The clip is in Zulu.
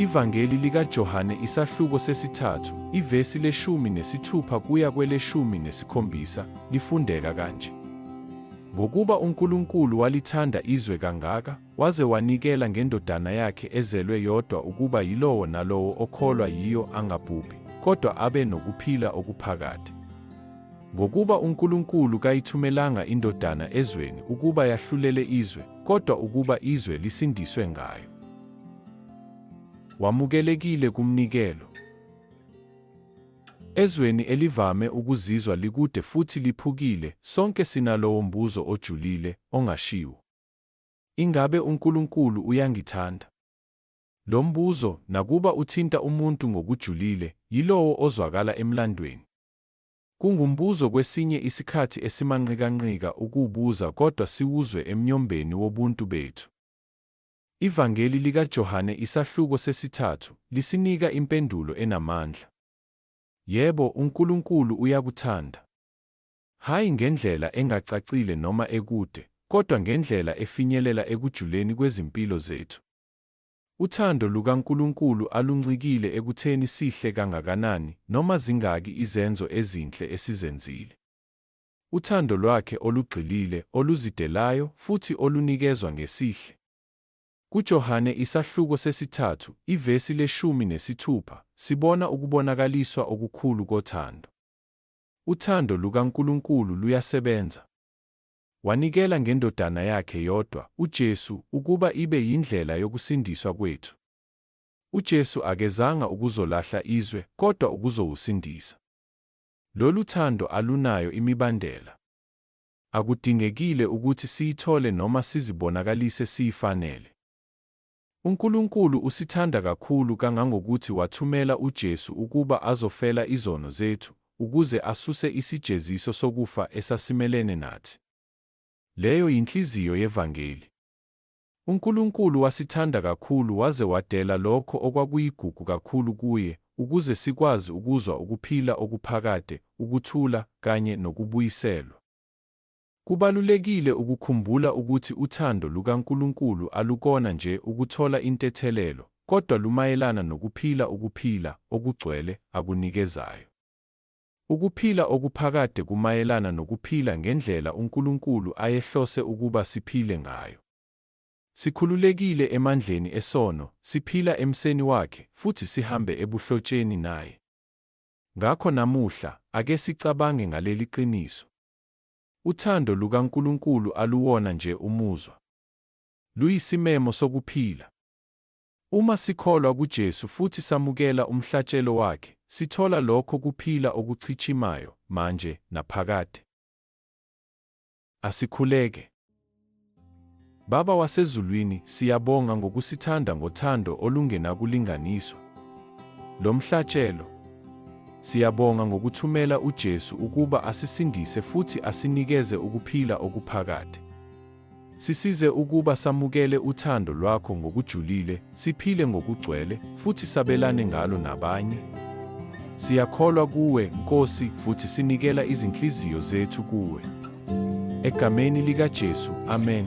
Ivangeli likaJohane isahluko sesithathu, ivesi leshumi nesithupha kuya kweleshumi nesikhombisa, lifundeka kanje. Ngokuba uNkulunkulu walithanda izwe kangaka, waze wanikela ngendodana yakhe ezelwe yodwa ukuba yilowo nalowo okholwa yiyo angabhubhi, kodwa abe nokuphila okuphakade. Ngokuba uNkulunkulu kayithumelanga iNdodana ezweni ukuba yahlulele izwe, kodwa ukuba izwe lisindiswe ngayo. Wamukelekile kumnikelo. Ezweni elivame ukuzizwa likude futhi liphukile, sonke sinalowo mbuzo ojulile, ongashiwo. Ingabe uNkulunkulu uyangithanda? Lo mbuzo, nakuba uthinta umuntu ngokujulile, yilowo ozwakala emlandweni. Kungumbuzo kwesinye isikhathi esimanqikanqika ukuwubuza kodwa siwuzwe emnyombeni wobuntu bethu. IVangeli likaJohane isahluko sesithathu lisinika impendulo enamandla. Yebo, uNkulunkulu uyakuthanda. Hhayi ngendlela engacacile noma ekude, kodwa ngendlela efinyelela ekujuleni kwezimpilo zethu. Uthando lukaNkulunkulu aluncikile ekutheni sihle kangakanani noma zingaki izenzo ezinhle esizenzile. Uthando lwakhe olugxilile, oluzidelayo, futhi olunikezwa ngesihle. KuJohane isahluko sesithathu, ivesi leshumi nesithupha, sibona ukubonakaliswa okukhulu kothando. Uthando lukaNkulunkulu luyasebenza. Wanikela ngeNdodana yakhe yodwa, uJesu, ukuba ibe yindlela yokusindiswa kwethu. UJesu akezanga ukuzolahla izwe, kodwa ukuzowusindisa. Lolu thando alunayo imibandela. Akudingekile ukuthi siyithole noma sizibonakalise siyifanele. UNkulunkulu usithanda kakhulu kangangokuthi wathumela uJesu ukuba azofela izono zethu, ukuze asuse isijeziso sokufa esasimelene nathi. Leyo yinhliziyo yevangeli. UNkulunkulu wasithanda kakhulu waze wadela lokho okwakuyigugu kakhulu kuye, ukuze sikwazi ukuzwa ukuphila okuphakade, ukuthula, kanye nokubuyiselwa. Kubalulekile ukukhumbula ukuthi uthando lukaNkulunkulu alukona nje ukuthola intethelelo, kodwa lumayelana nokuphila ukuphila okugcwele akunikezayo. Ukuphila okuphakade kumayelana nokuphila ngendlela uNkulunkulu ayehlose ukuba siphile ngayo. Sikhululekile emandleni esono, siphila emseni wakhe, futhi sihambe ebuhlotsheni naye. Ngakho namuhla, ake sicabange ngaleli qiniso. Uthando lukaNkulunkulu aluwona nje umuzwa. Luyisimemo sokuphila. Uma sikholwa kuJesu futhi samukela umhlatshelo Wakhe, sithola lokho kuphila okuchichimayo, manje naphakade. Asikhuleke. Baba wasezulwini, siyabonga ngokusithanda ngothando olungenakulinganiswa. Lo mhlatshelo, siyabonga ngokuthumela uJesu ukuba asisindise futhi asinikeze ukuphila okuphakade. Sisize ukuba samukele uthando lwakho ngokujulile, Siphile ngokugcwele, futhi sabelane ngalo nabanye. Siyakholwa kuwe, Nkosi, futhi sinikela izinhliziyo zethu kuwe. Egameni likaJesu, amen.